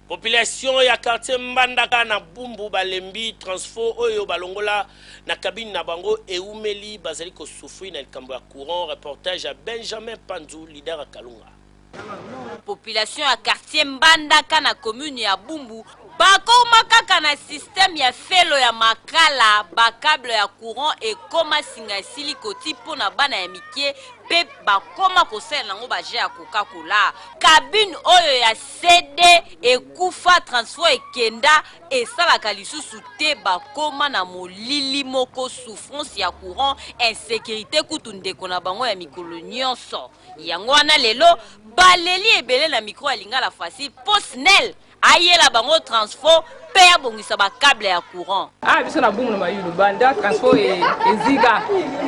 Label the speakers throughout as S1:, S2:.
S1: Population ya quartier Mbandaka na Bumbu balembi transfo oyo balongola na cabine na bango ewumeli bazali ko souffrir na likambo ya courant, reportage ya Benjamin Panzu, leader ya Kalunga.
S2: Population ya quartier Mbandaka na commune ya Bumbu bakoma kaka na système ya felo ya makala, ba cable ya courant ekoma singa esili koti mpo na bana ya mike mpe bakoma kosalela nango ba jeux ya coca cola. Cabine oyo ya CD ekufa transfo ekenda esalaka lisusu te bakoma na molili moko souffrance ya courant insecurite kutu ndeko na bango ya mikolo nyonso yango wana lelo baleli ebele na micro ya lingala facile po snel ayela bango transfo pe abongisa ba cable ya courant. Ah biso na bumu na mayulu
S3: banda transport e, eziga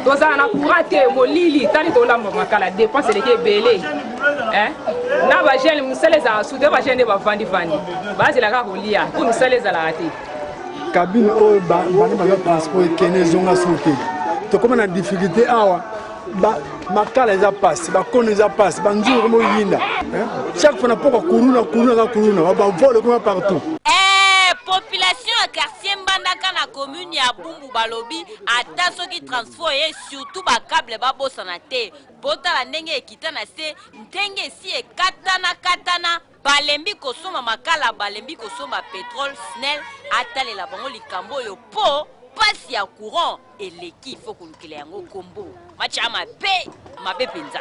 S3: tozala na courant te molili tali tolamba makala dépense eleki ebele eh? na bagene mosala ezalaka sude bagene nde bavandi vandi bazela kaka kolia mpo mosala ezalaka te kabine
S4: oyo bana baza transport ekende ezonga soki tokoma na difficulté awa ba makala eza pasi bakono eza pasi banzungu komo yinda chaque fois na poko kuluna kuluna ka kuluna bavole kuna partout eh,
S2: population ya quartier mbandaka na commune ya bumbu balobi ata soki transport ye surtout bacable babosana te botala ndenge ekita na se ndenge esi ekatana katana Balembi kosomba makala balembi kosomba petrole snel atalela bango likambo oyo po pasi ya courant eleki faut kolukela yango kombo match ya mabe mabe penza.